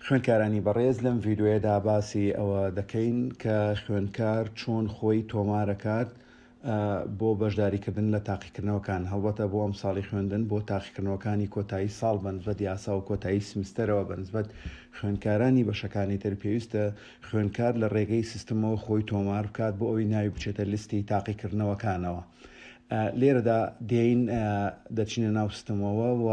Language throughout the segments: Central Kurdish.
خوێندکارانی بەڕێز لەم ڤیددیوەیەدا باسی ئەوە دەکەین کە خوێندکار چۆن خۆی تۆمارەکات بۆ بەشداریکردن لە تاقیکردنەوەکان هەڵبەتە بۆ ئەم ساڵی خوێندن بۆ تاقیکردنەوەکانی کۆتایی ساڵ بەنسبەت یاسا و کۆتایی سمستەرەوە بەنسبەت خوێندکارانی بەشەکانی تر پێویستە خوێندکار لە ڕێگەی سیستمەوە خۆی تۆمار بکات بۆ ئەوی ناوی بچێتە لیستی تاقیکردنەوەکانەوە. لێرەدا دێین دەچینە ناو سیستمەوە و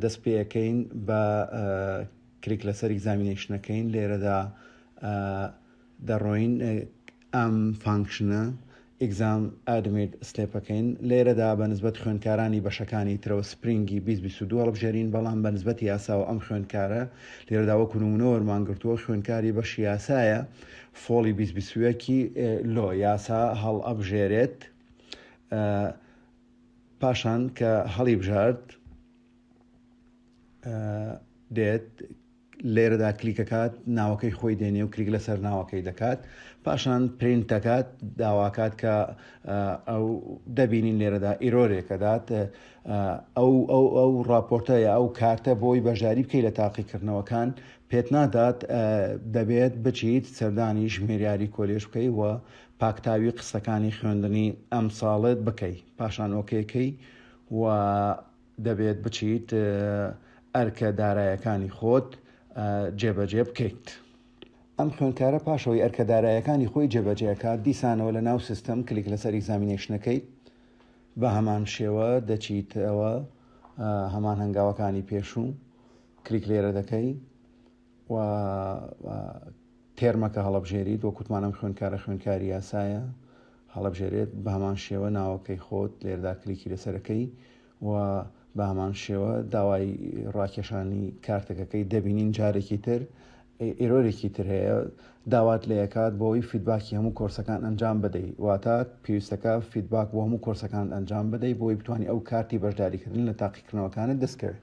دەست پێ ئەکەین بە کلیک لەسەر ئیگزامینەیشن ئەکەین لێرەدا دەڕۆین ئەم فانکشنە ئیگزام ئادمیت سلێپەکەین لێرەدا بە نسبەت خوێندکارانی بەشەکانی ترەوە سپرینگی 2022 هەڵبژێرین بەڵام بە نسبەتی یاساوە ئەم خوێندکارە لێرەدا وەکو نمونە وەرمانگرتووە خوێندکاری بەش یاسایە فۆڵی 2020ەکی لۆ یاسا هەڵ ئەبژێرێت پاشان کە هەڵیبژارد دێت لێرەدا کلیکەکات ناوەکەی خۆی دێنێ و کلیک لەسەر ناوەکەی دەکات پاشان پرینت دەکات داواکات کە ئەو دەبینین لێرەدا ئیرۆرێکە دات ئەو ئەو ئەو راپۆرتەیە ئەو کارتە بۆی بەژاری بکەی لە تاقیکردنەوەکان پێت نادات دەبێت بچیت سەردانی ژمێریاری کۆلێژ بکەی و پاکتاوی قسەکانی خوێندنی ئەمساڵت بکەی پاشان ئۆکەی کەی و دەبێت بچیت ئەرکە دارایەکانی خۆت جێبەجێ بکەیت. ئەم خوێندکارە پاشەوەی ئەرکە دارایەکانی خۆی جێبەجێکات دیسانەوە لە ناو سیستەم کلیک لەسەر ئیگزامینەیشنەکەی بە هەمان شێوە دەچیتەوە هەمان هەنگاوەکانی پێشوو کلیک لێرە دەکەی و تێرمەکە هەڵەبژێریت وە کوتمان ئەم خوێنکارە خوێنکاری یاسایە هەڵەبژێرێت بە هەمان شێوە ناوەکەی خۆت لێردا کلیکی لەسەرەکەی و بە هەمان شێوە داوای ڕاکێشانی کارتەکەکەی دەبینین جارێکی تر ئێرۆرێکی تر هەیە داوات لە یکات بۆی فیدباکی هەموو کۆرسەکان ئەنجام بدەیت واتە پێویستەکە فیدباک بۆ هەموو کۆرسەکان ئەنجام بدەیت بۆی بتانی ئەو کارتی بەشداریکردن لە تاقیکردنەوەکانت دەستکەوێت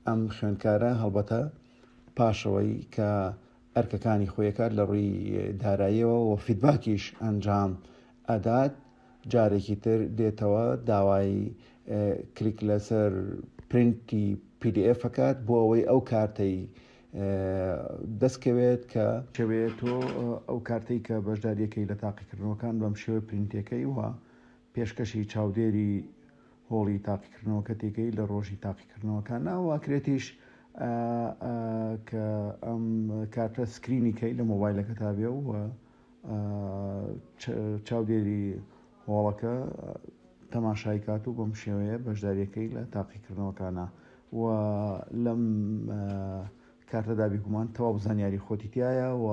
ئەم خوێندکارە هەڵبەتە پاشەوەی کە ئەرکەکانی خۆیەکات لە ڕووی داراییەوە و فیدباکیش ئەنجام ئەدات جارێکی تر دێتەوە داوای کلیک لەسەر پرینتی PDF ئەکات بۆ ئەوەی ئەو کارتەی دەستکەوێت کە شوێت و ئەو کارتەی کە بەشداریەکەی لە تاقیکردنەوەکان بەم شێوە پرینتەکەی وە پێشکەشی چاودێری هۆڵی تاقیکردنەوەکە تێکەی لە ڕۆژی تاقیکردنەوەکە ناوواکرێتیش کە ئەم کاتە سکرینی کەی لە مۆبایلەکە تا بێ و چاودێری هۆڵەکە تەماشای کات و بەم شێوەیە بەشداریەکەی لە تاقیکردنەوەکانە و لەم کاتەدا بیگومان تەواو زانیاری خۆتیتیایە و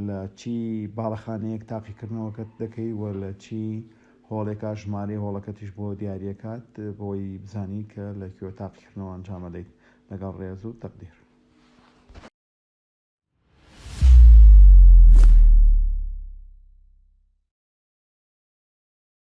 لە چی باڵەخانەیەک تاقیکردنەوەکەت دەکەی و لە چی هۆڵێکا ژمارەی هۆڵەکەتیش بۆ دیاریەکات بۆی بزانی کە لە کوێ تاقیکردنەوە ئەنجامەدەیت لەگەڵ ڕێز و تەقدیر.